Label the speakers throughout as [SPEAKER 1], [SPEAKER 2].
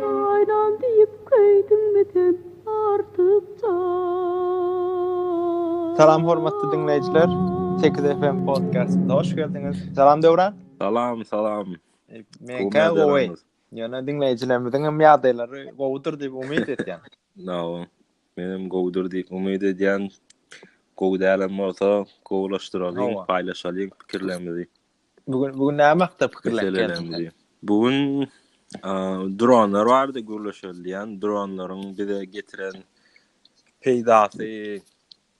[SPEAKER 1] Aýlan diýip köýdüňmi sen artykja. Salam hormatly diňleýjiler! Sekiz FM podkastynda hoş geldiňiz. Salam Döwran. Salam, salam. Meňkä gowy. Ýöne diňleýjilerimiziň hem ýagdaýlary gowudyr diýip umyt edýän. Nawa, menem gowudyr diýip umyt edýän. Gowy dälem bolsa, gowulaşdyralyň, paýlaşalyň pikirlerimizi. Bu gün, bu gün näme hakda pikirlenip geldiň? Bu gün dronlar barada gürleşilýän, dronlaryň bize getiren peýdasy,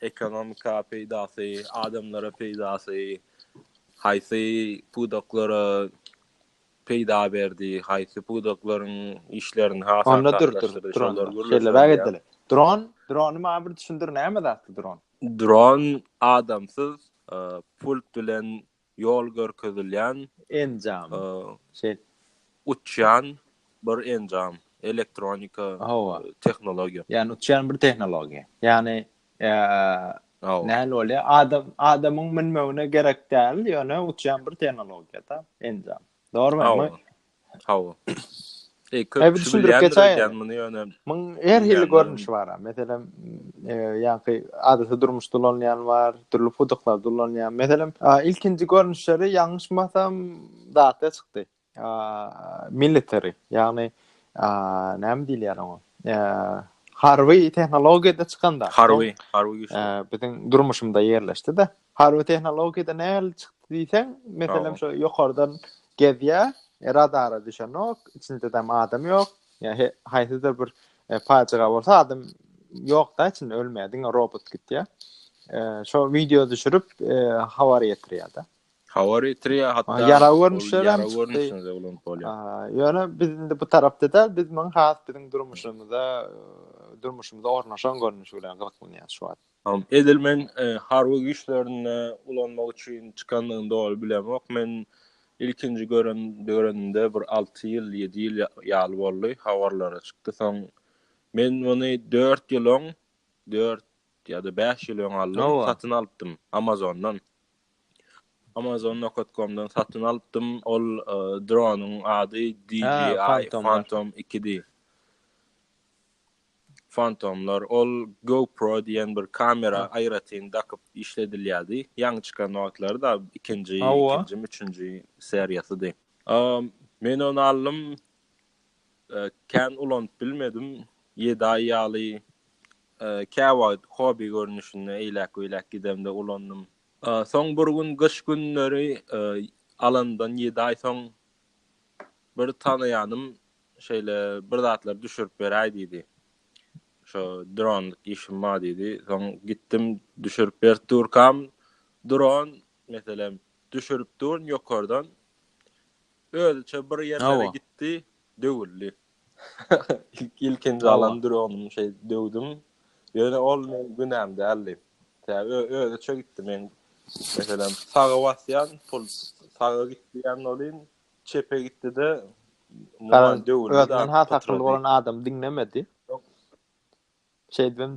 [SPEAKER 1] ekonomika peýdasy, adamlara peýdasy, haýsy pudaklara peýda berdi, haýsy pudaklaryň işlerini has aňsatlaşdyrdy, şolar gürleşilýär. Şeýlebäk edeli. Dron, drony maňa bir düşündir, näme zatdy dron? Dron adamsyz pult bilen ýol görkezilýän enjam. Şeý. Uçýan bir enjam, elektronika tehnologiýa. Ýani uçýan bir tehnologiýa. Ýani Ýa näl bolýa? Adam adamyň münmegine gerek däl, ýöne uçýan bir tehnologiýada enjam. Dogrumy? Hawa. Eý, köp düşündirip geçäýen muny ýöne. Muň her hili görnüşi bar. Meselem, ýa-da adaty durmuşda ulanýan bar, dürli pudaklarda ulanýan. Meselem, ilkinji görnüşleri ýalňyşmasam datda çykdy. military, ýagny näme diýilýär oňa? Harby tehnologiýada çykanda. Harby, harby güýçler. Biziň durmuşymyzda ýerleşdi-de. Harby tehnologiýada nähili çykdy diýseň, meselem şu ýokardan gezýär, radara düşenok, içinde de adam ýok. Ýa haýsydyr bir pajyga bolsa adam ýok-da içinde ölmeýär, diňe robot gitýär. Şo wideo düşürip habar ýetirýär-de. Hawa Eritrea hatda ýara görnüşler hem görnüşinde ulanyp bolýar. Ýöne biz indi bu tarapda da biz muň has biziň durmuşymyza durmuşymyza ornaşan görnüşi bilen gyzyklanýar şu wagt. Tamam. Edil men e, harby güýçlerinde ulanmak üçin çykandygyny doly bilemok. Men ilkinji gören görenimde bir 6 ýyl, 7 ýyl ýaly boldy, habarlara çykdy. Soň men muny 4 ýyl öň, 4 ýa-da 5 ýyl öň aldym, satyn alypdym Amazondan. Amazon Nokat komdan satyn alypdym. Ol dronyň ady DJI Phantom 2 di. Phantomlar ol GoPro diýen bir kamera aýratyn dakyp işledilýärdi. Ýaňy çykan wagtlary da ikinji, ikinji, üçünji seriýasydy. Men ony aldym. Kän ulanyp bilmedim. Ýedi aý ýaly käwagt hobi görnüşinde eýläk-beýläk gidemde ulandym. Soň bir gün gyş günleri alanymdan ýedi aý soň bir tanaýanym şeýle bir zatlar düşürip beräý diýdi. Şo dronlyk işim bar diýdi. Soň gitdim düşürip berip durkam dron meselem düşürip durun ýokardan Özüçe bir ýerlere gitdi, döwüldi. Ilkinji alan dronym şeý döwdüm. Ýöne ol meniň günäm däldi. Özüçe gitdi men. Meselem, saga basýan, pul saga gitdi diýen welin, çepe gitdi-de, döwüldi. Özünden has akylly bolan adam diňlemedi. Şeýdibem.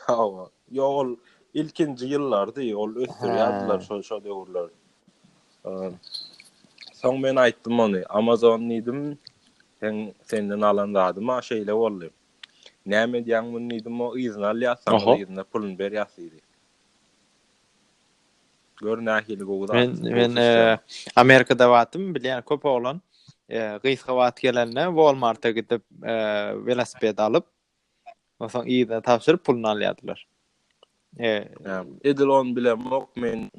[SPEAKER 1] Hawa. Ýok, ol ilkinji ýyllardy, ol ösdürýärdiler şol şo döwürler. Soň men aýtdym ony, Amazon diýdim, sen senden alan zadym a şeýle boldy. Näme edýäň muny diýdim, o yzyna alýarsyň, yzyna puluny berýärsiň diýdi. Gör nähili gowy zat. Men men Amerikada batym bilýän köp oglan gysga wagt gelende Walmarta gidip welosiped alyp onsoň yzyna tabşyryp puluny alýardylar. Edil on bilemok men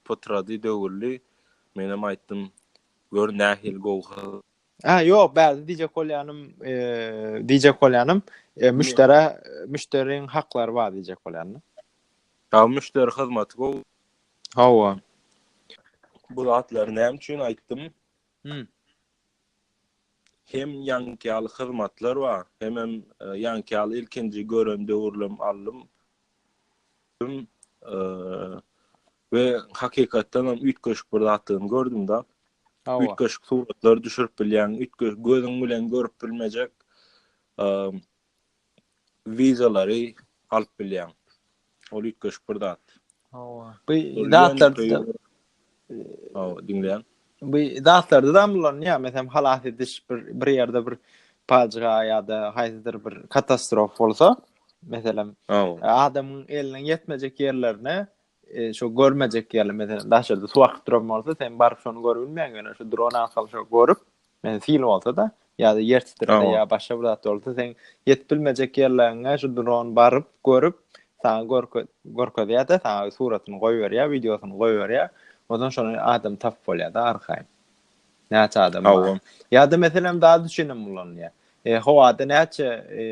[SPEAKER 1] potrady döwürli menem aýtdym gör nähili gowy Ha yok bäzi diyecek bolýanym eee diyecek bolýanym eee, müşdere müşderiň haklary bar diyecek bolýanym. Ýa müşderi hyzmaty gowy. Hawa. Bu zatlary näme üçin aýtdym? Hmm. Hem ýaňky ýaly hyzmatlar bar, hemem e, ýaňky ýaly ilkinji gören döwürlem aldym. Eee, we hakykatdan hem üýtgeşik bir zatlaryny gördüm-de. Hawa. Üýtgeşik suratlary düşürip bilýän, üýtgeşik gözüň bilen görüp bilmejek, eee, wideolary alyp bilýän. Ol üýtgeşik bir zat. Hawa. Bu zatlar Aw, diňleýän. Bu zatlarda da ulanýar. Meselem, halas ediş bir bir ýerde bir pajyga ýa-da haýsydyr bir katastrof bolsa, meselem, adamyň eliniň ýetmejek ýerlerine e, şu görmejek ýerler, meselem, daşarda suw akyp duran bolsa, sen baryp şony görüp bilmeýäň, ýöne şu dron arkaly şo görüp, Men fil bolsa-da, ýa-da ýer titrese, ýa başga bir zat bolsa, sen ýetip bilmejek ýerleriňe şu dron baryp, görüp, saňa görkezýär-de, saňa suratyny goýberýär, wideosyny goýberýär. Onsoň şony adam tapyp bolýar-da arkaýyn. Näçe adam bar. Ýa-da meselem zat üçin hem ulanylýar. E, howada näçe e,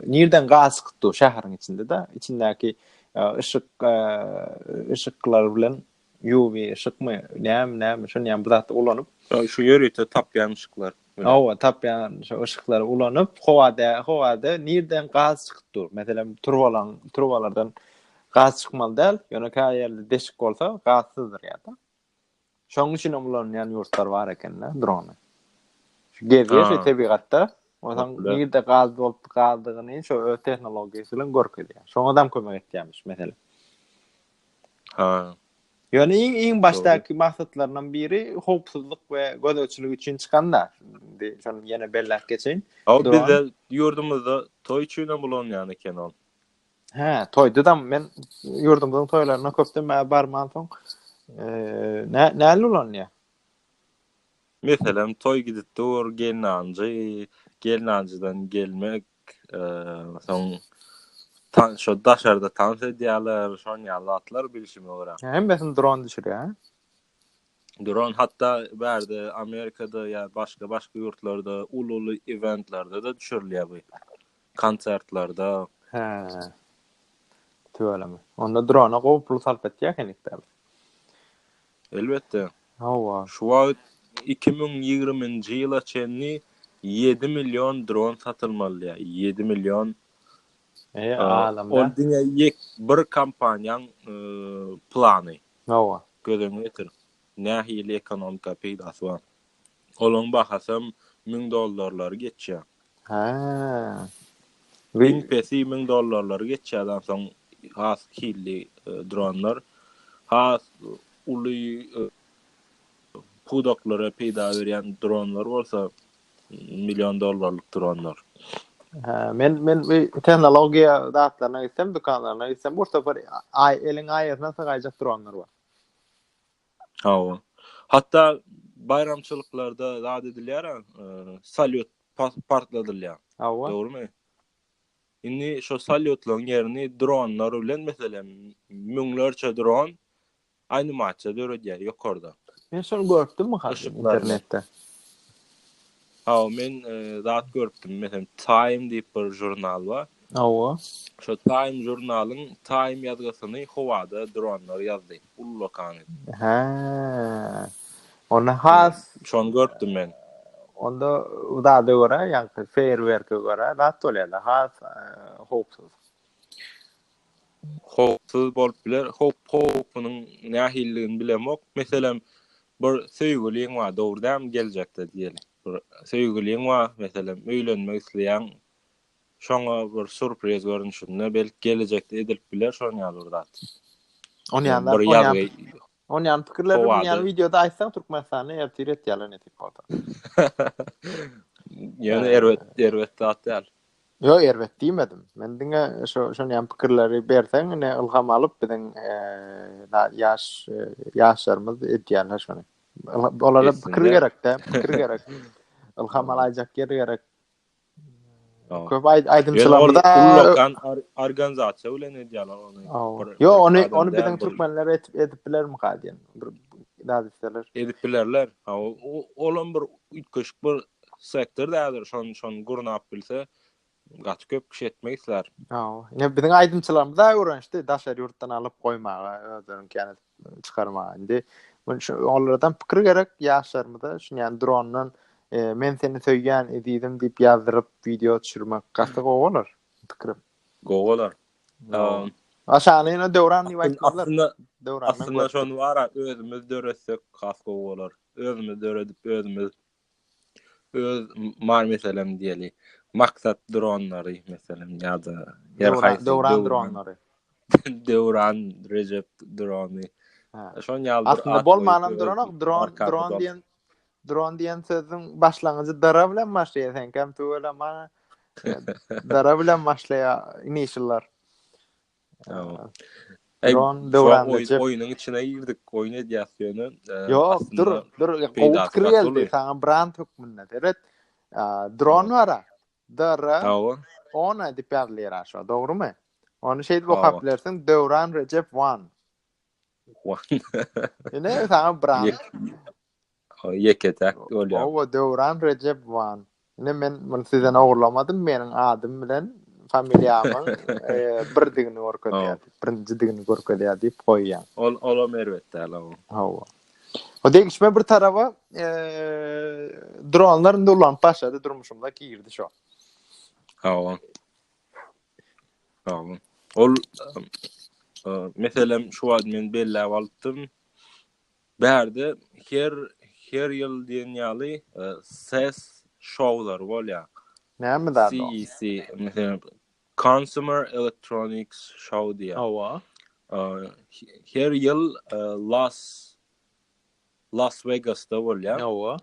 [SPEAKER 1] nirden gaz çykypdy şäheriň içinde-de, içindäki e, yşyk e, yşyklar bilen UV yşykmy, näme, näme, şuny ýaly bir zatda ulanyp. Şu ýörite tapýan yşyklar. Hawa, tapýan şu yşyklary ulanyp, howada, howada nirden gaz çykyp dur. Meselem, turbalaň, turbalardan gaz çykmaly däl, ýöne käýe ýerde deşik bolsa, gazsyzdyr ýa-da. Şonuň üçin hem ulanýan ýurtlar bar eken-de drony. Şu gezýär şu tebigatda, ondan nirde gaz bolup galdygyny şu öz tehnologiýasy bilen görkezýär. Şoňa adam kömek etýärmiş, meselem. Ha. Ýöne iň iň başdaky maksatlaryndan biri howpsuzlyk we gözegçilik üçin çykanda. Indi şony ýene belläp geçeýin. Aw bizde ýurdumyzda toý üçin hem ulanýan eken ol. Hä, toýda da men ýurdumyzyň toýlaryna köpden bäri barman soň nä näli ulanýar? Meselem toý gidip dur, gelnanjy, gelnanjydan gelmek, Soň tan şo daşarda tans edýärler, şon ýaly zatlar bilşime görä. Hemmesini dron düşürýär. Dron hatda bärde Amerikada ýa başga başga ýurtlarda uly-uly eventlerde de düşürilýär bu. Konsertlerde. He. Tüweleme. Onda drona gowy pul sarp etýär henikde. Elbetde. Hawa. Şu wagt iki müň ýigriminji ýyla çenli ýedi million dron satylmalydyýa, ýedi million. E, alamda. Ol diňe ýek bir kompaniýaň plany. Hawa. Göz öňüne getir. Nähili ekonomika peýdasy bar? Olaň bahasam müň dollarlary geçýä. Hä. Iň pesi müň dollarlary geçýädi onsoň has hilli dronlar has uly pudaklara peýda berýän dronlar bolsa million dollarlyk dronlar. Hä men men bu tehnologiýa zatlaryna gitsem dükanlaryna gitsem bir sapar aý eliň aýasyna sygaýjak dronlar bar. Hawa. Hatda baýramçylyklarda zat edilýär-ä, salýut partladylýar. Hawa. Dogrumy? Indi şo salýutlaryň ýerini dronlar bilen, meselem, müňlerçe dron animasiýa döredýär ýokardan. Men şony görüpdimmi, Hasan, internetde? Hawa, men zat görüpdim. Meselem, Time diýip bir žurnal bar. Hawa. Şo Time žurnalyň Time ýazgysyny howada dronlar ýazdy. Ullakany. Hä. Onda has şony görüpdim men. Onda zada görä, ýa-da feýerwerke görä zat bolýar-da, has howpsuz. howpsuz bolup biler. Howp-howpunyň nähilidigini bilemok. Meselem, bir söýgüliň bar, dogry dämi, geljekde diýeli. Bir söýgüliň bar, meselem, öýlenmek isleýäň. Şoňa bir surpriz görnüşinde, belki, gelejekde edilip biler şonuň ýaly bir zat. Ony ýaly zat, ony ýaly. On ýan pikirleri bu ýan wideoda aýtsaň Türkmenistany ertir et ýaly netip bolsa. Ýöne erbet erbet zat däl. Yo erbet diýmedim. Men diňe şu şon ýan pikirleri berseň ine ylham alyp biziň eee ýaş ýaşlarymyz edýänler şony. Olara pikir gerekde, pikir gerek. Ylham alaýjak ýer gerek. Köp aýdymçylarda ullakan organizasiýa bilen edýärler ony. Ýok, ony ony biziň türkmenler edip edip bilermika diýen bir dadisler. Edip bilerler. Ha, olam bir üýtgeşik bir sektor dädir, şon şon gurnap bilse gaty köp kişi etmek islär. Ha, ine biziň aýdymçylarymyz da öwrenişdi daşary ýurtdan alyp goýmaga özleriňki ýaly. çykarmaga indi şu olardan pikir gerek ýaşlarymyza şu ýan drondan e, men seni söýýän ezizim diýip ýazdyryp wideo düşürmek gaty gowy bolar pikirim gowy bolar aşany ýene döwran diýip aýtmazlar aslynda döwran aslynda şony bara özümiz döretsek has gowy bolar özümiz döredip özümiz öz mar meselem diýeli maksat dronlary meselem ýa-da ýer haýsy döwran dronlary döwran rejep drony şoň ýaly aslynda bolmanam duranok dron dron diýen dron diýen sözüň başlangyjy dara bilen başlaýar sen kem tüweleme dara bilen başlaýar inişler Dron döwranynda jep. Oýunyň içine girdik, oýun edýäs ýöne. Ýok, dur, dur. Gowy pikir geldi saňa brand hökmünde. Seret. Dron bar-a. DR. Hawa. Ona diýip ýazylýar aşa, dogrumy? Ony şeýdip okap bilersiň, Döwran Rejep One. One. Ine, saňa brand. Ýeke täk bolýar. Hawa Döwran Rejebowan. Ine men muny sizden ogurlamadym, meniň adym bilen familiýamyň birdigini görkezýär, birinjidigini görkezýär diýip goýýan. Ol olam erbet däl ow. Hawa. O degişme bir taraba dronlar indi ulanyp başlady durmuşymyza girdi şo. Hawa. Hawa. Ol meselem şu wagt men belläp alypdym. Bärde her her ýyl diýen ýaly ses şowlary bolýar. Näme zat o? CEC, meselem, Consumer Electronics Show diýýär. Hawa. Her ýyl Las Las Vegasda bolýar. Hawa.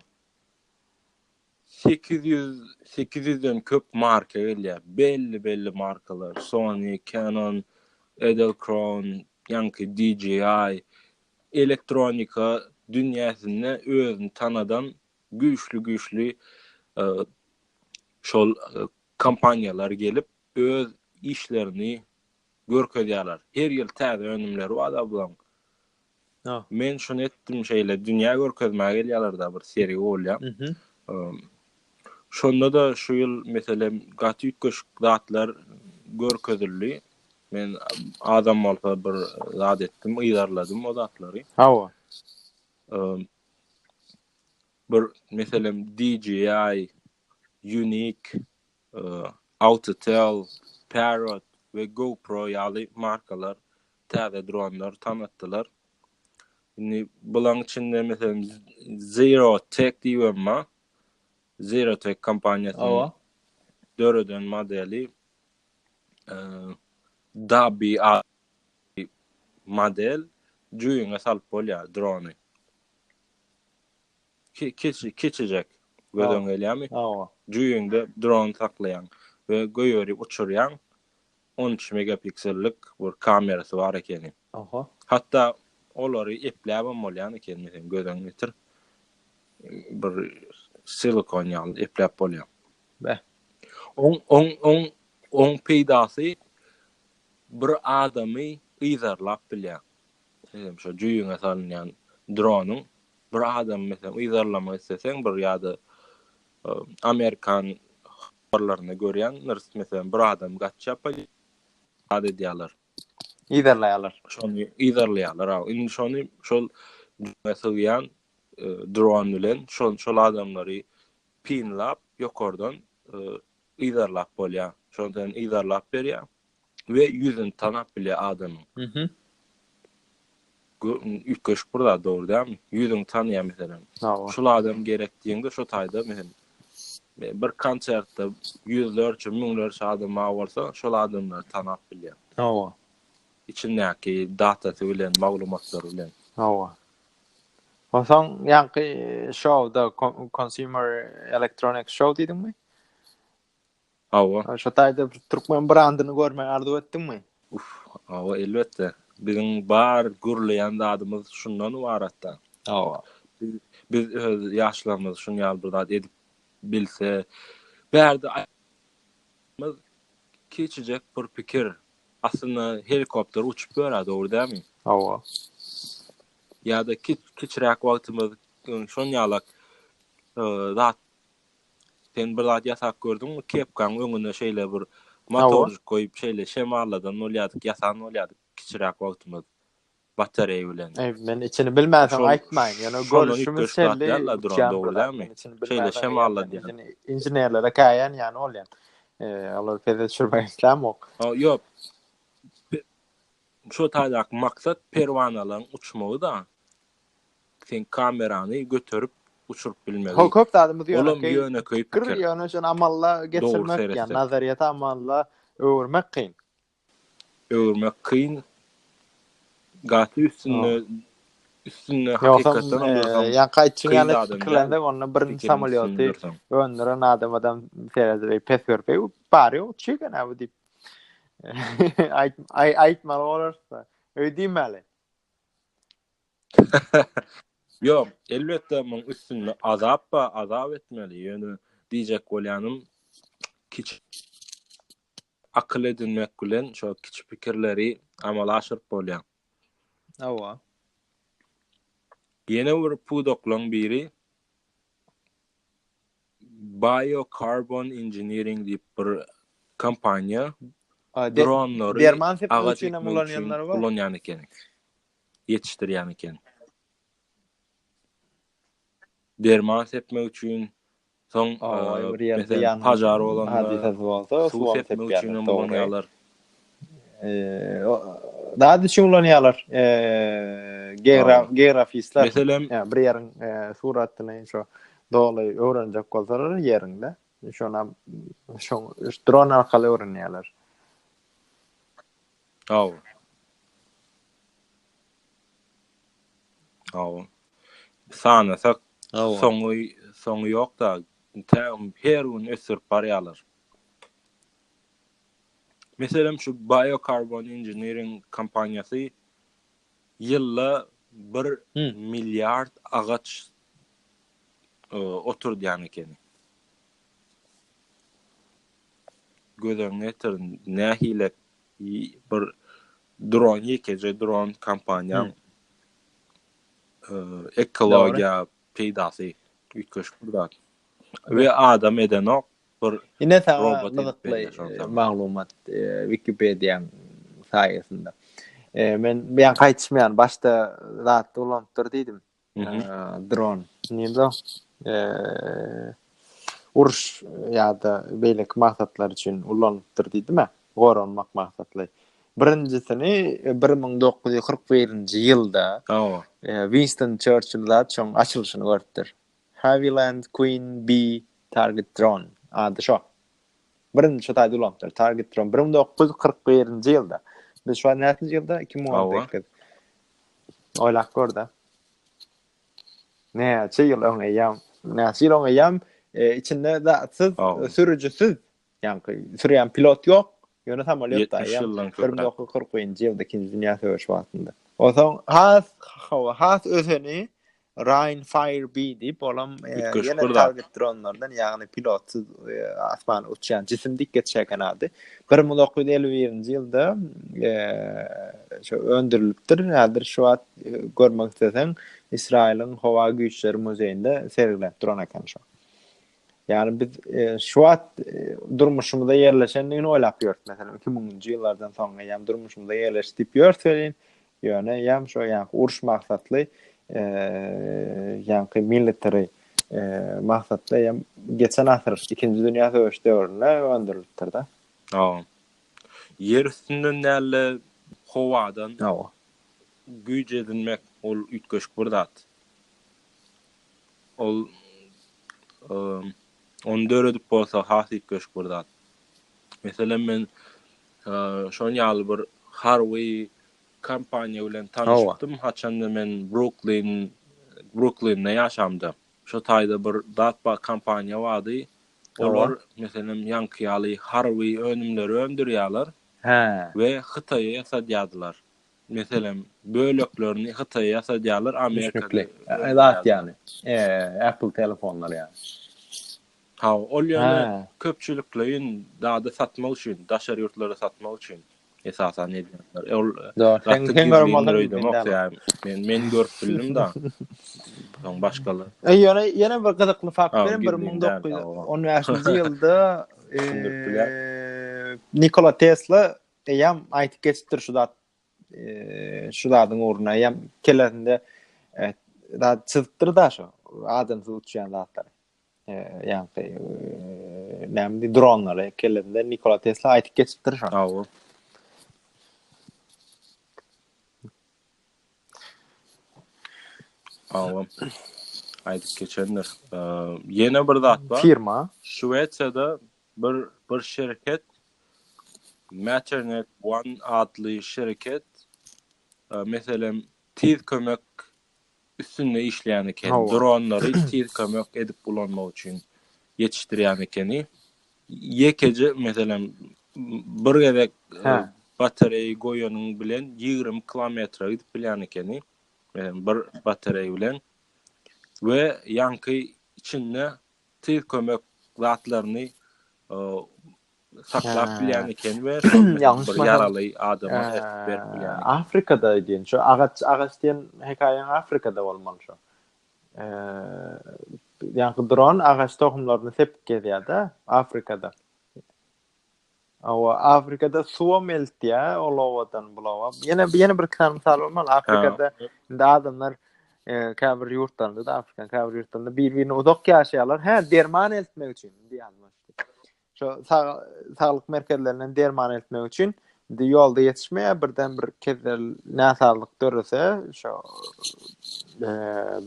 [SPEAKER 1] 800 800-den köp marka gelýär. Belli-belli markalar, Sony, Canon, Edelkrone, ýaňky DJI, elektronika dünýäsinde özüni tanadan güýçli-güýçli şol kompaniýalar gelip, öz işlerini görkezýärler. Her ýyl täze önümleri bar-da bularyň. Men şuny etdim şeýle, dünýä görkezmäge gelýärler-de, bir sergi bolýar. Şonda-da şu ýyl, meselem, gaty üýtgeşik zatlar görkezildi. Men azam bolsa bir zat etdim, yzarladym o zatlary. Hawa. Bir, meselem, DJI, Unique, Auditel, Parrot we GoPro ýaly markalar täze dronlar tanatdylar. Indi bulaň içinde, meselem, Zero Tech diýibem bar. Zerotech kompaniýasynyň döreden modeli Dabi model jüýüňe salyp bolýar drony. Kiçi kiçijek gözüň gelýärmi? Jüýüňde dron saklaýaň we göýeri uçurýaň. On üç megapiksellik bir kamerasy bar ekeni. Oho. Hatda olary epläbem bolýan eken meselem gözüň ýetir. Bir silikon ýaly epläp bolýar. Bä. On on on on peýdasy bir adamy yzarlap bilýär. Meselem şo jüýüňe salynýan dronyň bir adamy meselem yzarlamak isleseň bir ýa-da amerikan habarlarynda görýändiris, meselem, bir adam gaçýar, poli zat edýärler. Yzarlaýarlar. Şony yzarlaýarlar, aw. Indi şony şol jüňe sygýan e, dron bilen şol şol adamlary pinlap ýokardan e, yzarlap bolýar. Şondan yzarlap berýär. we ýüzüni tanap bilýär adamyň. Mhm. Üýtgeşik bir zat dogry dälmi? Ýüzüňi tanýar meselem. Şul adam gerek diýende şo taýda meselem bir konsertde ýüzlerçe, müňlerçe adam bar bolsa, şol adamlary tanap bilýär. Hawa. Içindäki datasy bilen, maglumatlary bilen. Hawa. Onsoň ýaňky şowda Consumer Electronics Show diýdiňmi? Hawa. Şo taýda bir türkmen brandyny görmegi arzuw etdiňmi? Uf, hawa, elbetde. Biziň bar gürleýän zadymyz şundan ybaratda. Hawa. Biz öz ýaşlarymyz şun ýaly bir zat edip bilse, bärde aýtmaz kiçijek bir pikir. Aslynda helikopter uçup ýörä, dogry dälmi? Hawa. Ýa-da kiç kiçiräk wagtymyz şon ýalak zat Sen bir zat ýasap gördüňmi? Kepkaň öňüne şeýle bir motorjyk goýup, şeýle şemalladan bolýardyk, ýasan bolýardyk kiçiräk wagtymyz batareýa bilen. Eý, men içini bilmänsoň aýtmaýyn, ýöne görüşimiz şeýle uçýan bir zat, men içini bilmänsoň inženerlere käýän ýaly bolýan. Olary pese düşürmäge islämok. Ýok. Şo taýdaky maksat perwanalaryň uçmagy-da. Sen kamerany göterip uçuryp bilmegi. Köp zadymyz ýönekeý. Pikir ýöne şony amala geçirmek ýa nazaryýeti amala öwürmek kyn. Öwürmek kyn. Gaty üstünde üstünde hakykatdan hem dursaň. Ýaňky aýtjyň ýaly pikirlensek onda birinji samolýoty öndüren adamydam seredip pes görüp bary ýok çig ene bu diýip aýtmaly bolarys da öýdýmäli. Ýok, elbetde muň üstünde azap bar, azap etmeli. Ýöne diýjek bolýanym, kiçi akyl edinmek bilen şo kiçi pikirleri amala aşyryp bolýar. Hawa. Ýene bir pudaklaň biri Biocarbon Engineering diýip bir kompaniýa dronlary derman sepmek üçin ulanýanlar bar. Ulanýan ekeni. ýetişdirýän eken. Derman sepmek üçin, soň meselem pažar bolanda suw sepmek üçin hem ulanýarlar. Zat üçin ulanýarlar geografistler. Meselem, bir ýeriň suratyny şo doly öwrenjek bolsalar ýeriňde, şonam şo dron arkaly öwrenýärler. Sag bol. Sag bol. Sanasak soňy soňy ýok da her gün ösdürip barýarlar. Meselem şu Biocarbon Engineering kompaniýasy ýylda bir milliard agaç oturdýan ekeni. Göz öňüne getirin nähili bir dron ýekeje dron kompaniýaň ekologiýa peýdasy üýtgeşik bir zat we adam edenok bir ine saňa maglumat wikipediýaň saýasynda men bu ýan gaýtmýan başda zatda ulanypdyr diýdim dron nirde uruş ýa-da beýleki maksatlar üçin ulanypdyr diýdime goranmak maksatly birinjisini bir müň dokuz ýüz kyrk birinji ýylda winston çerçill zat şoň açylyşyny görüpdir haviland queen b target dron ady şo birinji şu taýda ulanypdyr target dron bir müň dokuz ýüz kyrk birinji ýylda biz şu an näçinji ýylda iki müň on sekiz Oýlap gör-de. Näçe ýyl öň eýýäm, näçe ýyl öň eýýäm e, içinde zatsyz, sürüjisiz, ýaňky sürýän pilot ýok. Ýöne samolýot da ýa 1940-njy ýylda ikinji dünýä söweşi wagtynda. Onsoň has hawa has özeni Ryan Fire B diýip olam ýene target dronlardan ýagny pilotsyz asmana uçýan jisim diýip geçýärken ady. 1951-nji ýylda şu öndürilipdir. Häzir şu wagt görmek isleseň Israýylyň howa güýçleri muzeýinde sergilenip duran eken şu. Ýagny biz şu wagt durmuşymyza ýerleşendigini oýlap ýörüs. Meselem 2000-nji ýyllardan soň eýýäm durmuşymyza ýerleşdi diýip ýörüs welin Ýöne ýam şo ýaňky uruş maksatly ýaňky military maksatly ýam geçen asyr ikinji dünýä söweş döwründe öndürilipdir da. Hawa. Ýer üstünden däl-de howadan Hawa. güýç edinmek ol üýtgeşik bir zat. Ol ony döredip bolsa has üýtgeşik bir zat. Meselem men Şoň ýaly bir harby kompaniýa bilen tanyşypdym, haçanda men Bruklin, Bruklinde ýaşamda. Şo taýda bir zat bar, kompaniýa bardy. Olar, meselem, ýaňky ýaly harby önümleri öndürýärler we Hytaýa ýasadýardylar. Meselem, böleklerini Hytaýa ýasadýarlar, Amerikada. Düşnükli. Zat ýaly, Apple telefonlary ýaly. Hawa, ol ýöne köpçülikleýin zady satmak üçin, daşary ýurtlara satmak üçin esasan edýärler. Ol gaty gizlindir öýdemok, ýa-da men men görüp bildim da. Soň başgalar. E ýöne ýene bir gyzykly fakt bilen 1915-nji ýylda düşündirip bilýär. Nikola Tesla eýýäm aýdyp geçipdir şu zat şu zadyň ugruna eýýäm kellesinde zat çyzypdyr da şu adamsyz uçýan zatlary. ýaňky näme dronlary kellesinde Nikola Tesla aýdyp geçipdir şony. Hawa. Hawa. Aýdyp geçendir. Ýene bir zat bar. Firma. Şwesiýada bir bir şirket Maternet One adly şirket meselem tiz kömek üstünde işleýän ekeni. Dronlary tiz kömek edip ulanmak üçin ýetişdirýän ekeni. Ýekeje meselem bir gezek batareýa goýanyň bilen 20 kilometre gidip bilýän ekeni. Meselem bir batareýa bilen we ýaňky içinde tiz kömek zatlaryny saklap bilýän eken we şol bir ýaraly adama ertip berip bilýän eken. Afrikada diýen şu agaç agaç diýen hekaýaň Afrikada bolmaly şu. Ýa-da dron agaç tohumlaryny sepip gezýär-de Afrikada. Awa Afrikada suwa meltýär, ol owadan bulawa. Ýene ýene bir kän mysal bolmaly. Afrikada indi adamlar käbir ýurtlarynda-da Afrika, käbir ýurtlarynda bir-birine uzak ýaşaýarlar. Hä, derman eltmek üçin diýýär. Şu saglyk merkezlerinden derman eltmek üçin indi ýolda ýetişmeýär, birden bir kezler näsazlyk dörese, şu e,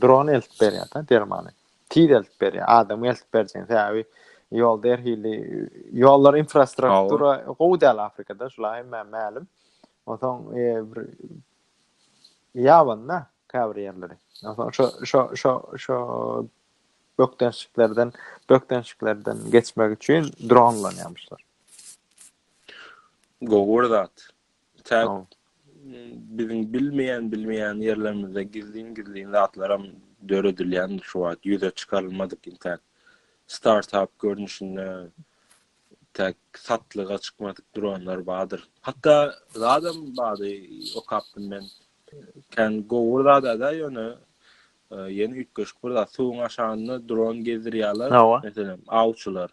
[SPEAKER 1] dron eltip berýär da dermany. Tiz eltip berýär, adam eltip berjek. Sebäbi ýolda her hili ýollar infrastruktura gowy däl Afrikada, şula hemme mälim. Onsoň e, bir ýabanda käbir ýerleri. Onsoň şu şu şu şu bökdençliklerden bökdençliklerden geçmek üçin dron ulanýarmyşlar. Gowy bir zat. Täk biziň bilmeýän bilmeýän ýerlerimizde gizlin gizlin zatlaram döredilýän şu wagt ýüze çykarylmadyk intäk startup görnüşinde täk satlyga çykmadyk dronlar bardyr. Hatda zadam bardy okapdym men. Kan gowy zada da ýöne Ýene üýtgeşik bir zat, suwuň aşagynda dron gezdirýärler. Meselem, awçylar.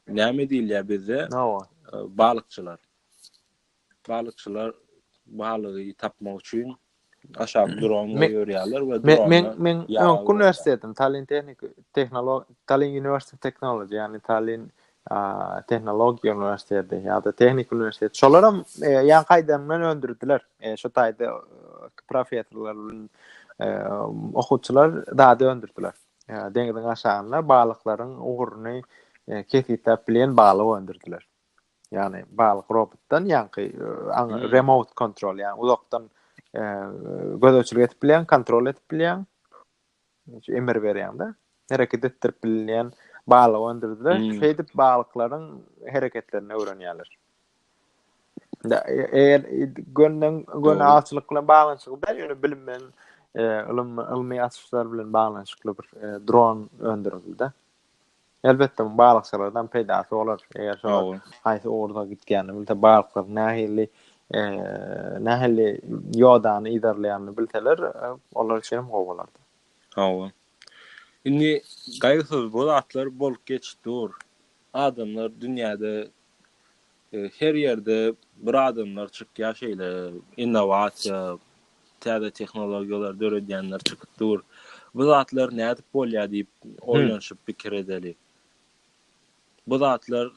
[SPEAKER 1] Näme diýilýär bizde? Balykçylar. Balykçylar balygy tapmak üçin aşak dron görýärler we dron. Men men öňki uniwersitetim Tallinn Tehnik Tehnolog Tallinn University of Technology, ýagny Tallinn tehnologiýa uniwersiteti ýa-da tehniki uniwersitet. Şolar hem ýan gaýdandan öndürdiler. Şu taýda professorlar bilen okuwçylar zady öndürdiler. Deňiziň aşagynda balyklaryň ugruny kesgitläp bilen balyk öndürdiler. Ýagny balyk robotdan ýaňky remote control, ýagny uzakdan gözegçilik edip bilen, kontrol edip bilen. emir berýäňde hereket etdirip bilinýän balyk öndürdiler. Hmm. Şeýdip balyklaryň hereketlerini öwrenýärler. Eger gönden göne awçylyk bilen baglanyşykly däl, ýöne bilim bilen e, ylym ylmy açyşlar bilen baglanyşykly bir e, dron öndürildi. Elbetde bu balykçylardan peýdasy bolar. Eger şo haýsy ugurda gitýänini bilse, balyklar nähili nähili ýodany yzarlaýanyny bilseler, olar üçin hem gowy bolardy. Hawa. Indi gaýgysyz bu zatlar bolup geçip dur. Adamlar dünýäde Her ýerde bir adamlar çykýar şeýle innowasiýa, täze tehnologiýalar döredýänler çykyp dur. Bu zatlar nädip bolýar diýip oýlanyşyp pikir edeli. Bu zatlar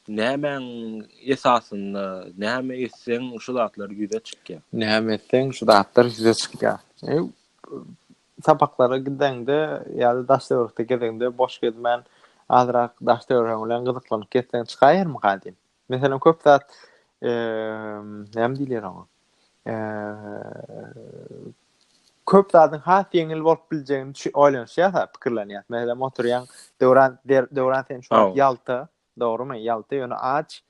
[SPEAKER 1] nämäň esasynda, näme etseň şu zatlar ýüze çykýar? Näme etseň şu zatlar ýüze çykýar? Sapaklara gideňde ýa-da daş-töwerekde gezeňde boş gezmän, azrak daş-töweregiň bilen gyzyklanyp gezseň çykaýarmyka diýip. Meselem, köp zat, näme diýilýär oňa? Köp zadyň has ýeňil bolup biljegini oýlanyşýas-a, pikirlenýäs. Meselem, oturýaň, Döwran, Döwran sen şu wagt Ýalta, Dogrumy? Ýalta ýöne aç.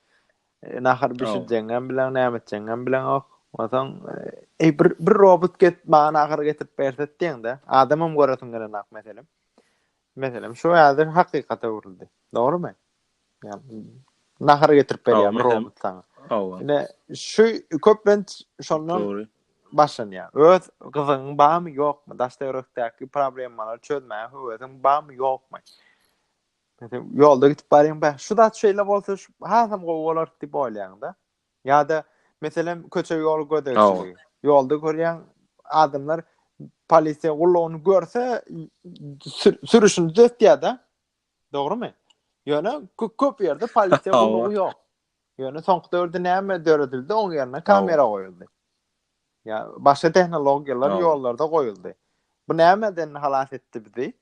[SPEAKER 1] Nahar bişirjeňňem bileň, näme etjeňňem bileňok. Onsoň, eý, bir bir robot get, maňa nahar getirip berse diýeňde, adamam göresiň gelenok meselem. Meselem, şu häzir hakykata öwrüldi. Dogrumy? Ýani, nahar getirip berýär bir robot saňa. Hawa. Ine, şu köplenç şondan Dogry. başlanýar. Öz gyzyň barmy, ýokmy? Daşda ýörekdäki problemalar çözmäge höwesiň barmy, ýokmy? Ýolda gidip barýaň, bä, şu zat şeýle bolsa, hasam gowy bolar diýip oýlaýaň-da. Ýa-da, meselem, köçe-ýol gözegçiligi. Ýolda görýäň, adamlar polisiýa gullugyny görse, sürüşini düzetýär-de. Dogrumy? Ýöne köp ýerde polisiýa gullugy ýok. Ýöne soňky döwürde näme döredildi, oň ýerine kamera goýuldy. Ýa başga tehnologiýalar ýollarda goýuldy. Bu nämeden halas etdi bizi?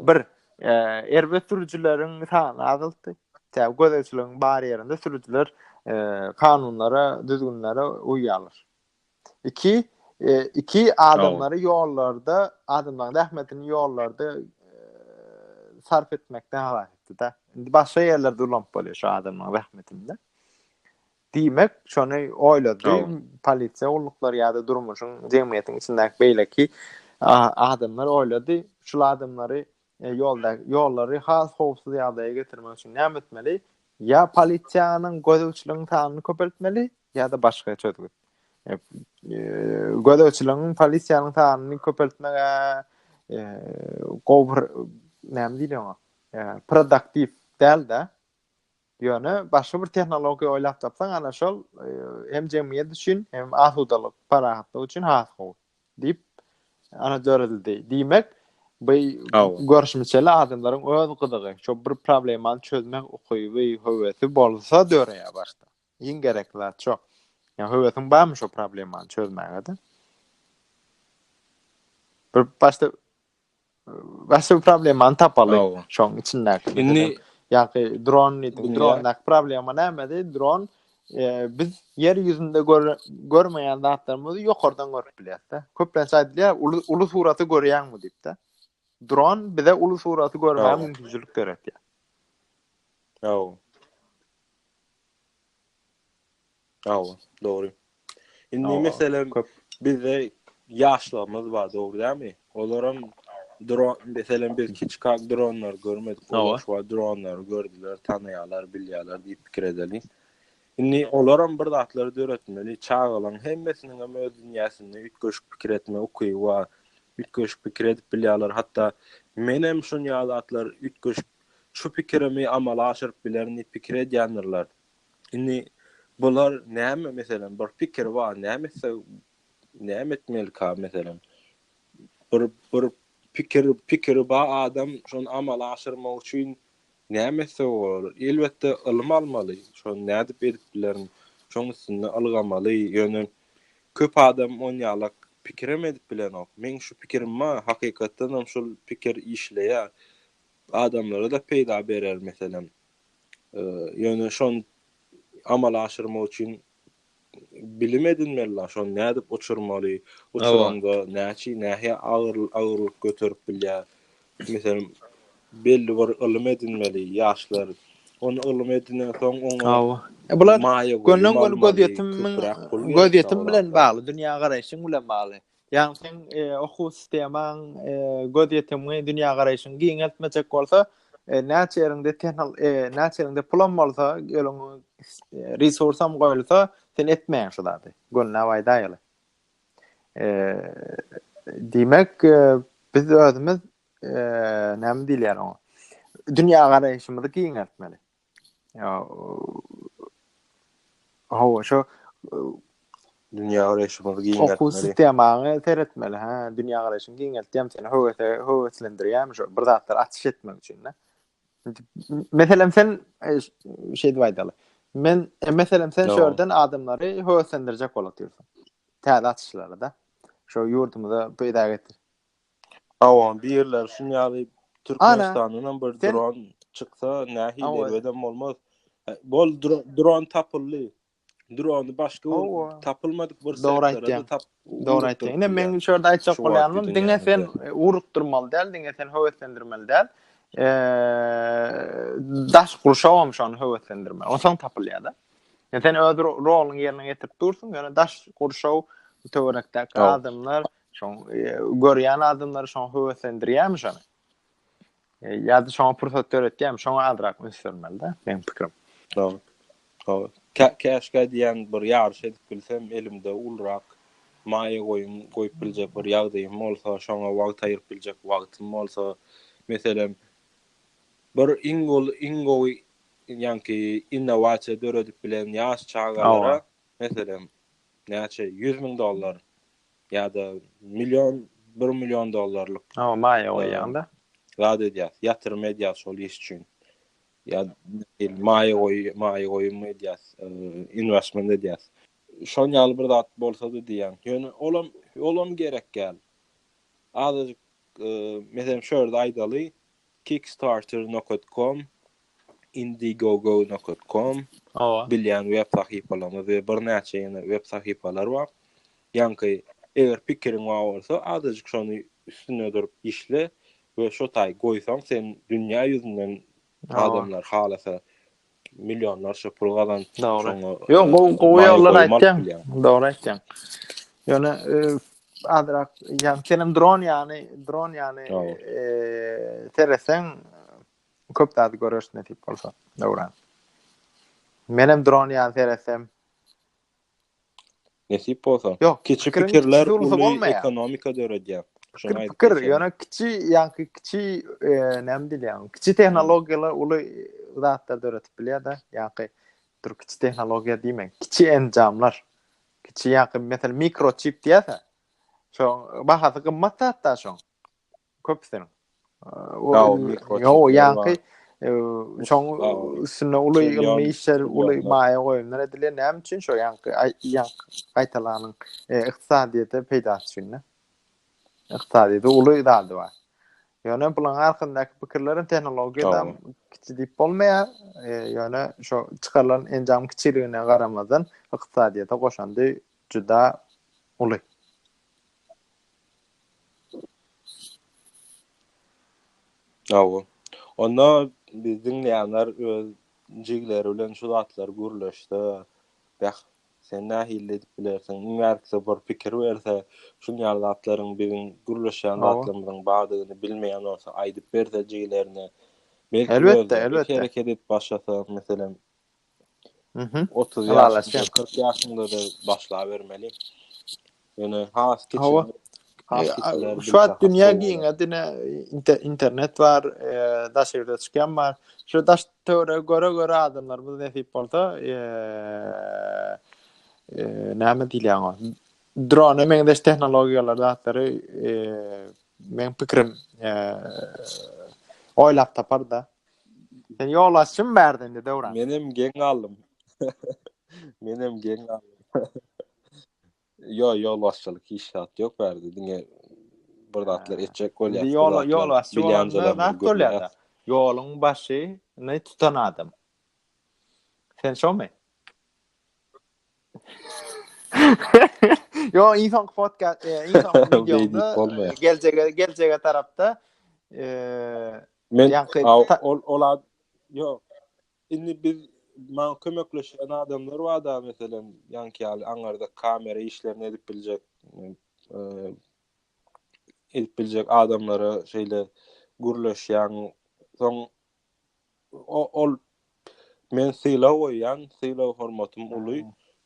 [SPEAKER 1] Bir, e, erbet sürüjileriň sany azaltdy. Tä gözegçiligiň bar ýerinde sürüjiler e, kanunlara, düzgünlere uýýarlar. Iki, e, iki adamlary ýollarda, adamlaryň zähmetini ýollarda e, sarp etmekden halas etdi da. Indi başga ýerlerde ulanyp bolýar şu adamlaryň zähmetini. Diýmek, şony oýlady polisiýa gulluklary ýa-da durmuşyň, jemgyýetiň içindäki beýleki adamlar oýlady. Şul adamlary E, ýolda ýollary has howpsuz ýagdaýa getirmek üçin näme etmeli? Ýa polisiýanyň gözegçiligiň sanyny köpeltmeli, ýa-da başga çözgüt. E, e, gözegçiligiň, polisiýanyň sanyny köpeltmege e, gowy bir näme diýilýär oňa? E, produktiw däl-de. Ýöne başga bir tehnologiýa oýlap tapsaň, ana şol hem jemgyýet üçin, hem asudalyk, parahatlyk üçin has gowy diýip ana döredildi. Diýmek, bu görüşmişeli adamlaryň öz gyzygy, şo bir problemany çözmek ukyby, höwesi bolsa döreýär başda. Iň gerekli zat şo. Ýa höwesiň barmy şo problemany çözmäge-de? Bir başda Bäsdir problemany tapaly. Şoň içindäki. Indi ýa-da dron diýdi. Drondaky problema nämedi? Dron biz ýer ýüzünde görmeýän zatlarymyzy ýokardan görüp bilýäs-de. Köplenç aýdylýar, uly uly suraty görýäňmi diýip-de. Dron bize uly suraty görmäge mümkinçilik döretýär. Ýa. Hawa, dogry. Indi meselem bizde ýaşlarymyz bar, dogry dämi? Olaram dron, meselem biz kiçikak dronlar görmedik, olar şu dronlary gördüler, tanaýarlar, bilýärler diýip pikir edeli. Indi olaram bir zatlar döretmeli, çagalaň hemmesiniň hem öz dünýäsinde üýtgeşik pikir etme ukyby bar. Üýtgeşik pikir edip bilýärler, hatda menem şunýa zatlar üýtgeşik şu pikirimi amala aşyryp bilerin diýip pikir edýändirler. Indi bular näme meselem bir pikir bar näme etse näme etmelika meselem bir bir pikir pikiri ba adam şony amal aşyrmak üçin näme etse bolar elbetde ylym almaly şony nädip edip bilerin şoň üstünde ylgamaly ýöne köp adam on ýalak pikirem edip bilenok meň şu pikirim ba hakykatdanam şul pikir işleýär adamlara da peýda berer meselem Ýöne şony amala aşyrmak üçin bilim edinmeli la, şony nädip uçurmaly, uçuranda näçe nähä agyr agyrlyk göterip bilýär. Meselem, belli bir ylym edinmeli ýaşlar. Ony ylym edinen soň oňa Bular gönden göni gözýetim göz ýetim bilen bagly, dünýä garaýşyň bilen bagly. Ýagny seň okuw sistemaň, gözýetimňi, dünýägaraýşyňy giňeltmejek bolsa, näçe ýeriňde tehnol, näçe ýeriňde pulam bolsa, geliň resursam goýulsa, sen etmeýäň şu zady. Gönüläp aýdaýaly. Diýmek, biz özümiz näme diýilýär oňa? Dünýägaraýşymyzy giňeltmeli. Ýa Hawa, şo dünýä garaýşymyzy giňeltmeli. Okuw sistemaňy seretmeli, hä, dünýä garaýşyňy giňeltýärmi, seni höwese höweslendirýärmi şo bir zatlar açyş etmek üçin, hä? Meselem sen şeýdip aýdaly. Men meselem sen şu ýerden adamlary höweslendirjek bolup ýörsiň. Täze açyşlara da. Şo ýurdumyza peýda getir. Hawa, birler şun ýaly Türkmenistandan hem bir dron çyksa nähili erbedem bolmaz. Bol dron tapyldy. Drony başga tapylmadyk bir sebäplerden tapyp. Dogry aýtýaň. Ine meň şu ýerde aýtjak bolýanym diňe sen ugrukdyrmaly däl, diňe sen höweslendirmeli däl. Daş gurşaw hem şony höweslendirmeli. Onsoň tapylýar-da. Sen öz roluňy ýerine ýetirip dursuň, ýöne daş gurşaw töwerekdäki adamlar Şoň görýän adamlary şoň höweslendirýärmi şony? E, ýa-da şoňa pursat döretýärmi? Şoňa azrak üns bermeli-de, meniň pikirim. Dogry. Dogry. Käşgä diýýän bir ýaryş edip bilsem, elimde ulurak maýa goýum goýup biljek bir ýagdaýym bolsa, şoňa wagt aýryp biljek wagtym bolsa, meselem, bir iň gowy, iň gowy ýaňky innowasiýa döredip bilen ýaş çagalara, meselem, näçe, ýüz müň dollar ýa-da million, bir million dollarlyk. Hawa, maýa goýýaňda. Zat edýäs, ýatyrym edýäs şol iş üçin. Ýa maýa goý, maýa goýum edýäs, inwestment edýäs. Şoň ýaly bir zat bolsa-da diýýän. Ýöne olam, olam gerek däl. Azajyk, meselem, şu ýerde aýdaly, kickstarter nokat kom, Indiegogo nokat kom, bilýän web sahypalarymyz we birnäçe ýene web sahypalar bar. Ýaňky eger pikiriň bar bolsa, azajyk şony üstünde durup işle we şo taýy goýsaň, sen dünýä ýüzünden adamlar halasa millionlarça pul gazanyp şoňa. Ýok, gowy, gowy ýollary aýtýaň. Dogry aýtýaň. Ýöne azrak, ýa senem dron ýany, dron ýany seretseň, Köp zady göreris nesip bolsa, Döwran. Menem dron ýaly seretsem. Nesip bolsa. Ýok, kiçi pikirler uly ekonomika döredýär. Şoňa pikir, ýöne kiçi, ýa-da kiçi, e, näme diýilýär? Kiçi tehnologiýalar uly zatlar döredip bilýär-de, ýa-da dur kiçi tehnologiýa diýmek, kiçi enjamlar. Kiçi ýa-da meselem mikroçip diýýär-de. Şo bahasy gymmat zat-da şoň. köpüsiniň. Ýok, ýaňky şoň üstünde uly ylmy işler, uly maýa goýumlar edilýär. Näme üçin şo ýaňky ýaňky gaýtalanyň ykdysadyýete peýdasy üçin. Ykdysadyýete uly zady bar. Ýöne bulaň arkasyndaky pikirleriň tehnologiýada kiçi diýip bolmaýar. Ýöne şo çykarylan enjam kiçiligine garamazdan ykdysadyýete goşandy juda uly. Hawa. Onda bizi diňleýänler öz jigleri bilen şu zatlary gürleşse, beh, sen nähili edip bilersiň? Iň ärkisi bir pikir berse, şuny ýaly zatlaryň biziň gürleşýän zatlarymyzyň bardygyny bilmeýän bolsa, aýdyp berse jigilerine, belki özleri hereket edip başlasa, meselem, Mhm. 30 ýaşyňda, 40 ýaşyňda da başlabermeli. Ýöne has kiçi Şu at dünya giň, dine internet bar, daş ýerde çykýan bar. Şu daş töwre göre göre adamlar bu nesip bolsa, näme diýýän o? Drone men daş tehnologiýalar zatlary men pikrim oýlap tapar da. Sen yol açım berdin de Döwran. Menem geň aldım. Menem geň aldım. Yo yol başçylyk hiç zat yok berdi. Dine bir zatlar etjek bolýar. Yol yol başçy bolanda zat bolýar. Yolun başı ne tutan adam. Sen şo mi? Yo insan podcast, e, insan videoda e, gelecege gelecege tarafta e, Men ol ol ad yok. Şimdi biz man kömekleşen adamlar var da mesela yanki yani anlarda kamera işlerini edip bilecek e, edip bilecek adamlara şeyle gürleşen son o ol Men sylag goýýan, sylag-hormatym uly,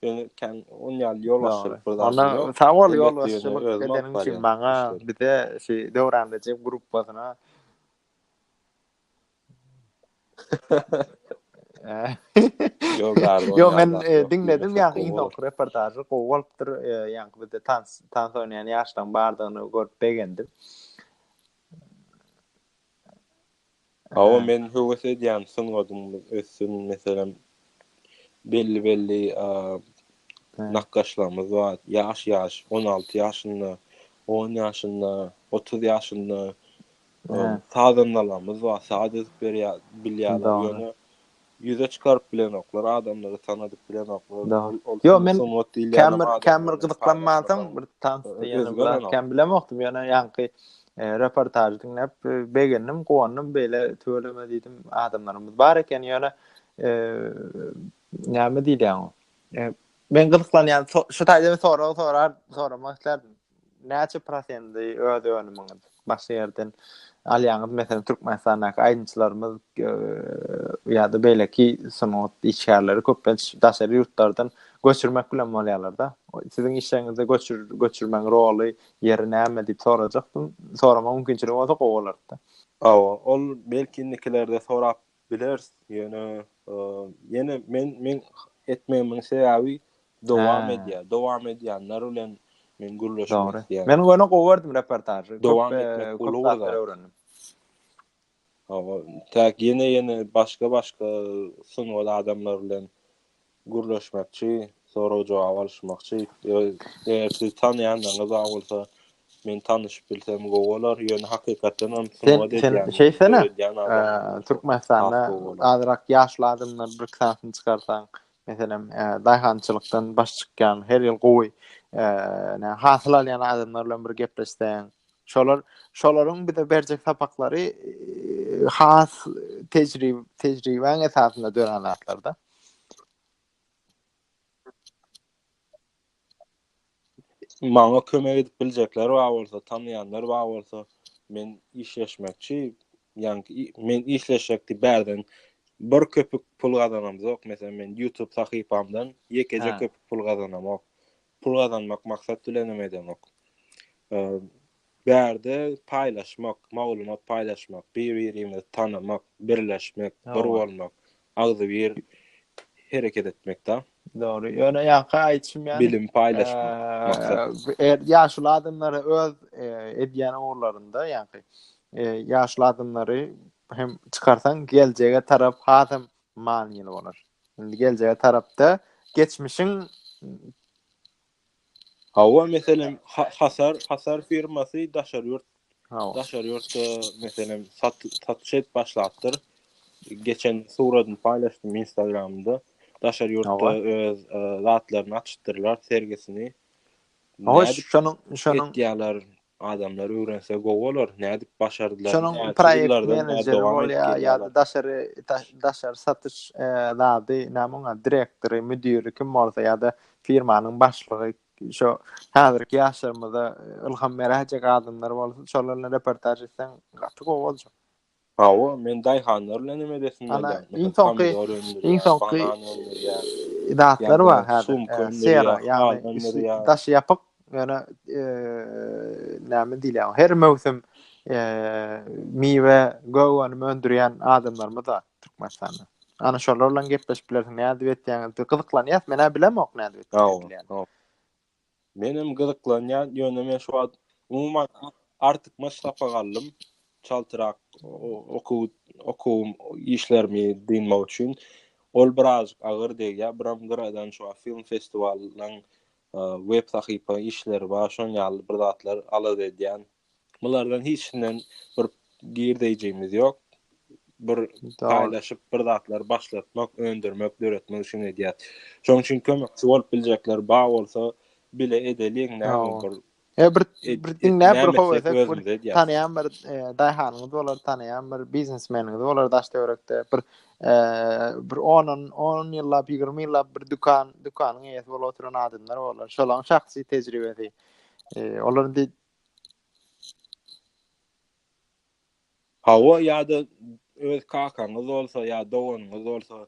[SPEAKER 1] ýöne kän on ýaly ýolbaşçylyk bir zadym ýok. Onda sag bol ýolbaşçylyk edeniň üçin maňa, bize, şu Döwran Rejep gruppasyna. Ýok, men diňledim ýaňky iň soňky reportažy, gowy bolupdyr. Ýaňky bizde tans, tans oýnaýan ýaşlaň bardygyny görüp begendim. Hawa men höwes edýän sungadymyz össün meselem belli belli nakgaşlarymyz bar ýaş ýaş on alty ýaşynda on ýaşynda otuz ýaşynda sazandalarymyz bar saz edip berýär bilýärler ýöne Ýüze çykaryp bilenoklar, adamlary tanadyp bilenoklar. Dagyn ol sungat diýilýänem adamlaryň Kem bir gyzyklanmansoň bir tansda ýene biraz kem bilemokdym ýöne ýaňky reportažy diňläp begendim, guwandym beýle tüweleme diýdim adamlarymyz bar eken ýöne näme diýilýär oňa men gyzyklanýan şu taýda bir sorag soramak islerdim. Näçe prosenti öz önümiňiz başga ýerden alýaňyz? Meselem, Türkmenistandaky aýdymçylarymyz ýa-da beýleki sungat işgärleri köplenç daşary ýurtlardan göçürmek bilen bolýarlar-da. Siziň işleriňizde göçür göçürmegiň roly, ýeri näme diýip sorajakdym. Soramaga mümkinçiligi bolsa gowy bolardy. Hawa, ol belki indikilerde sorap Bileris, ýöne ýene men men etmegimiň sebäbi dowam edýär. Dowam edýänler bilen men gürleşmek isleýän. Men ýöne gowy gördüm reportažy. Dowam etmek uly zatlar öwrendim. Hawa, täk ýene-ýene başga-başga sungat adamlary bilen gürleşmekçi, sorag-jogap alyşmakçy. Eger sizi tanaýanlaryňyz bar bolsa, men tanyşyp bilsem gowy bolar. Ýöne hakykatdan hem sungat edýän. Sen şeýtsene, Türkmenistanda azrak ýaşly adamlaryň bir kitabyny çykarsaň, meselem, daýhançylykdan baş çykýan, her ýyl gowy hasyl alýan adamlar bilen bir gepleşseň, şolar, şolaryň bize berjek sapaklary has tejribäň esasynda dörän zatlar-da. Maňa kömek edip biljekler bar bolsa, tanýanlar bar bolsa, men işleşmekçi. Ýaňky men işleşjekdi bärden bir köpük pul gazanamzok. Meselem, men YouTube sahypamdan ýekeje köpük pul gazanamok. Pul gazanmak maksat bilenem edenok. Bärde paýlaşmak, maglumat paýlaşmak, bir-birimizi tanamak, birleşmek, bir bolmak, agzybir hereket etmekdä. Dogry. Ýöne ýaňky aýdyşym ýaly, bilim paýlaşmak maksat. Ýaşuly adamlara öz edýän ugurlarynda, ýaňky ýaşuly adamlary hem çykarsaň, geljege tarap has hem manyly bolar. Indi geljege tarapda geçmişiň Hawa, meselem, Hasar, Hasar firmasy daşary ýurt, daşary ýurtda meselem satyş edip başlapdyr. Geçen suratyny paýlaşdym Instagramda. Daşary ýurtda öz zatlaryny açypdyrlar, sergisini. Hawa, şonuň, şonuň. Ýalar Adamlar öwrense gowy bolar, nädip başardylar, Şonuň näçe proýekt ýyllardan bäri menejeri dowam edip bolýar, ýa-da gelýärler. daşary da- daşary satyş e, zady, näme oňa, direktory, müdiri kim bolsa ýa-da firmanyň başlygy şo häzirki ýaşlarymyza ylham beräýjek adamlar bolsa, şolar bilen reportaž etseň gaty gowy boljak. Hawa, men daýhanlar bilen hem edesim gelýär. Iň soňky, iň soňky zatlar bar häzir. Sera, ýagny daşy ýapyk, ýöne näme diýilýär, her möwsüm miwe, gögönüm öndürýän adamlarymyz bar Türkmenistanda. Ana şolar bilen gepleşip bilersiň, nädip etýäňiz diýip gyzyklanýas. Men-ä bilemok nädip etjekdigini. Menem gyzyklanýan ýöne men şu wagt umuman artykmaç sapak aldym. Çaltyrak okuw okuwym işlerimi dynmak üçin ol birazjyk agyr degýär. Biram gyradan şu wagt film festiwalynyň web sahypa işleri bar. Şoň ýaly bir zatlar alada edýän. Bulardan hiçinden bir girdeýjimiz ýok. Bir paýlaşyp, bir zatlar başlatmak, öndürmek, döretmek üçin edýär. Şonuň üçin kömekçi bolup biljekler ba bolsa, bile edeliň, näme bir E bir bir diňläp bir howesek bir tanýan bir e, daýhanyňyz bolar, tanýan bir biznesmeniňiz bolar daş töwerekde bir e, bir 10 10 ýyllap, 20 ýyllap bir dükan, dükanyň eýesi bolup oturan adamlar bolar. Şolaň şahsy tejribesi. E, olar indi Hawa ýa-da öz kakaňyz bolsa ýa doganyňyz bolsa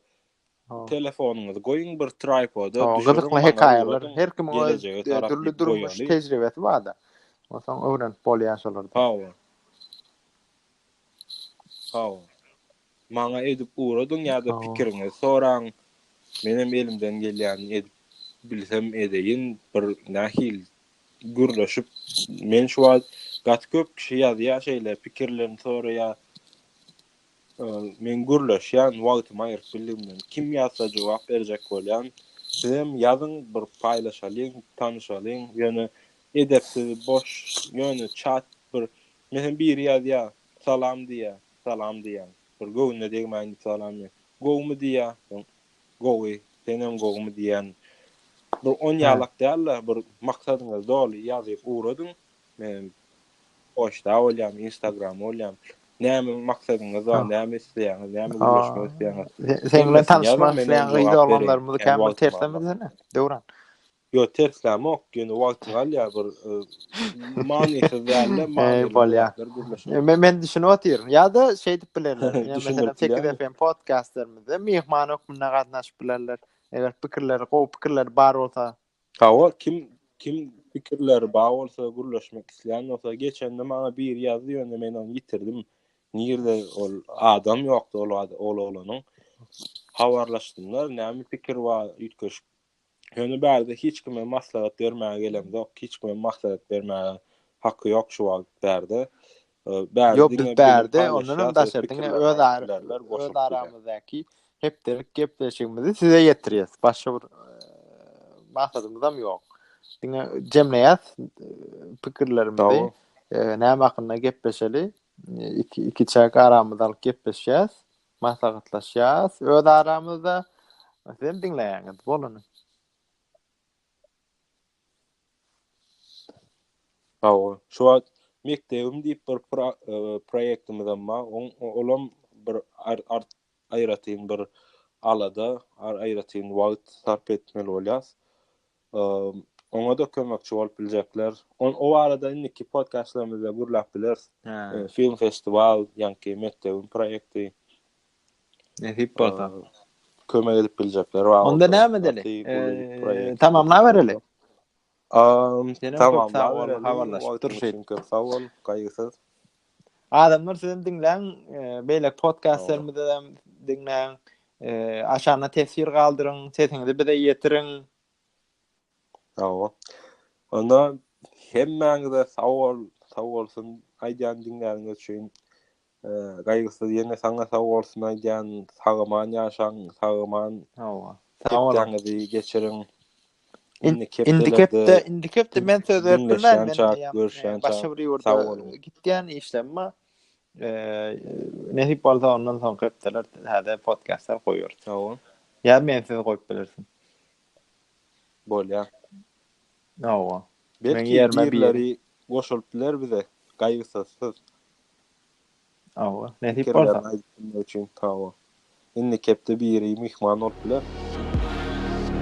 [SPEAKER 1] telefonyňyzy goýuň bir traýpoda düşüriň. Gyzykly hekaýalar her kimiň öz dürli durmuş tejribesi barda. Onsoň öwrenip bolýar şolardan. Hawa. Hawa. maňa edip ugradyň ýa-da pikiriňizi soraň. Menem elimden gelýänini edip bilsem edeýin. Bir nähili gürleşip, men şu wagt gaty köp kişi ýazýar şeýle pikirlerini soraýar. Men gürleşýän wagtymy aýryp bildigimden. Kim ýazsa jogap berjek bolýan. Sizem ýazyň bir paýlaşalyň, tanyşalyň. Ýöne edepsiz, boş, ýöne çat bir. Menem biri ýazýar, salam diýýär. Salam diýýän. Bir göwnüne degmäýindi salam diýen. Gowumy diýýä. Soň gowy, senem gowumy diýýän. Bir on ýalak däl-de, bir maksadyňyzy doly ýazyp ugradyň. Men poçta bolýan, instagram bolýan. Näme maksadyňyz bar, näme isleýäňiz, näme gürleşmek isleýäňiz. Seň bilen tanyşmak isleýän gyz oglanlarymyzy kän bir tersemizene, Döwran. Ýok terslänmok ýöne wagty galýar bir manysyz dälde manyly bolýar. Men men düşünip otyryn. Ýa-da şeýdip bilerler. Meselem Tekiz FM podcastlarymyza myhman hökmünde gatnaşyp bilerler. Eger pikirleri gowy pikirleri bar bolsa. Hawa kim kim pikirleri bar bolsa gürleşmek isleýän bolsa geçende maňa biri ýazdy ýöne men ony ýitirdim. Nirde ol adam ýokdy ol ol oglanyň. Habarlaşdymlar näme pikir bar üýtgeşik Ýöne bärde hiç kime maslahat bermäge gelemzok, hiç kime maslahat bermäge haky ýok şu wagt bärde. Ýok biz bärde ondanam daşary diňe öz öz aramyzdaky hepdelik gepleşigimizi size ýetirýäs. Başga bir maksadymyzam ýok. Diňe jemleýäs pikirlerimizi. Näme hakynda gepleşeli? Iki iki çaý garamyzy alyp gepleşýäs. Maslahatlaşýas öz aramyzda. Sizem diňleýäňiz bolany. Hawa, şu wagt mekdebim diýip bir proýektimizem bar. Oň olam bir art aýratyn bir alada, aýratyn wagt sarp etmeli bolýas. oňa-da kömekçi bolup biljekler. On o barada indiki podkastlarymyzda gürläp bileris. E, film festiwal, ýaňky mekdebiň proýekti. Nesip bolsa. Kömek edip biljekler bar. Onda näme edeli? E, tamamlap bereli. Tamamlap bereli. Habarlaşyp durşy. Köp sag bol, gaýgysyz. Adamlar sizem diňläň, e, beýlek podkastlarymyzy hem diňläň. E, aşagyna teswir galdyryň, sesiňizi bize ýetiriň. Hawa. Onda hemmäňize sag bol, sag bolsun aýdýan diňläniňiz üçin. E, gaýgysyz ýene saňa sag bolsun aýdýan, sagaman ýaşaň, sagaman. Hawa. Sag boluň. Geçiriň. Indi kepde, indi kepde men söz beripdirmen, men diýýän, başga bir ýurda gitýän işlemma. Nesip bolsa ondan soňky hepdeler täze podkastlar goýarys. Hawa. Ýa men sizi goýup bilersiň. Bolýar. Hawa. Belki ýerleri goşulyp biler bize, gaýgysyz. Hawa, nesip bolsa. Pikirlerini aýdyp bilmek üçin sag bol. Indiki hepde biri myhman bolup biler.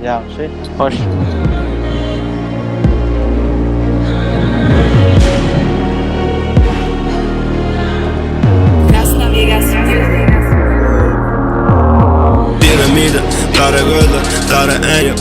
[SPEAKER 1] Ýagşy, hoş.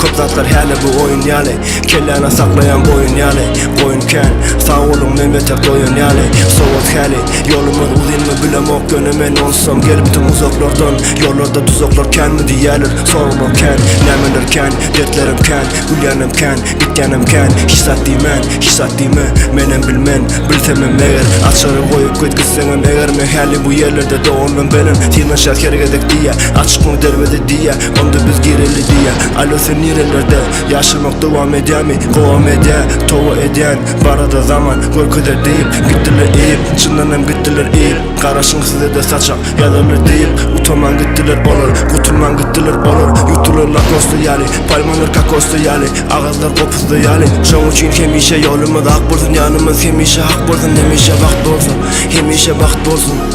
[SPEAKER 1] Köp zatlar häli bu oýun ýaly Kelläne saklaýan boýun ýaly Goýun kän, sag boluň Memete goýun ýaly Sowat häli, ýolumyz uzynmy bilemok Ýöne men onsam gelipdim uzaklardan Ýollarda duzaklar känmi diýýäler Soraglar kän, nämeler kän Dertlerim kän, gülýänem kän Gitýänem kän, hiç zat diýmän Hiç zat diýme, menem bilmen Bilsemem meger, açary goýup git gitseňem Eger men häli bu ýerlerde dogandym Benim synanyşýar her gezek diýýär Açykmy derweze diýýär Onda biz gireli diýýä Alo sen nirelerde Ýaşamak dowam edýämi Gowam edýä Towa edýän Barada zaman Görkezer diýip Gitdiler iýip Çyndanam gitdiler iýip Garaşyň sizede saçak Ýazarlar diýip Utaman gitdiler olar Gutulman gitdiler olar Ýutdular lakosda ýaly Palmalar kakosda ýaly Agazlar gopusda ýaly Şoň üçin hemişe Ýolumyz ak bolsun Ýanymyz hemişe hak bolsun Hemişe wagt bolsun Hemişe wagt bolsun.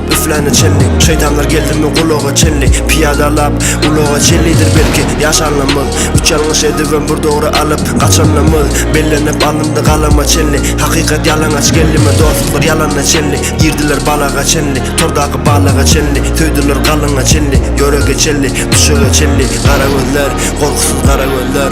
[SPEAKER 1] Üfläne çenli, şeýtanlar geldimi gulaga çenli Pyýadalap ulaga çenlidir belki ýaşanymyz Üç ýalňyş edibem bir dogry alyp gaçanymyz Bellenip alyndy galama çenli Hakykat ýalaňaç geldimi dostluklar ýalana çenli Girdiler balaga çenli, tordaky balaga çenli Söýdüler galyňa çenli, ýörege çenli, düşege çenli Gara gözler, gorkusyz gara gözler.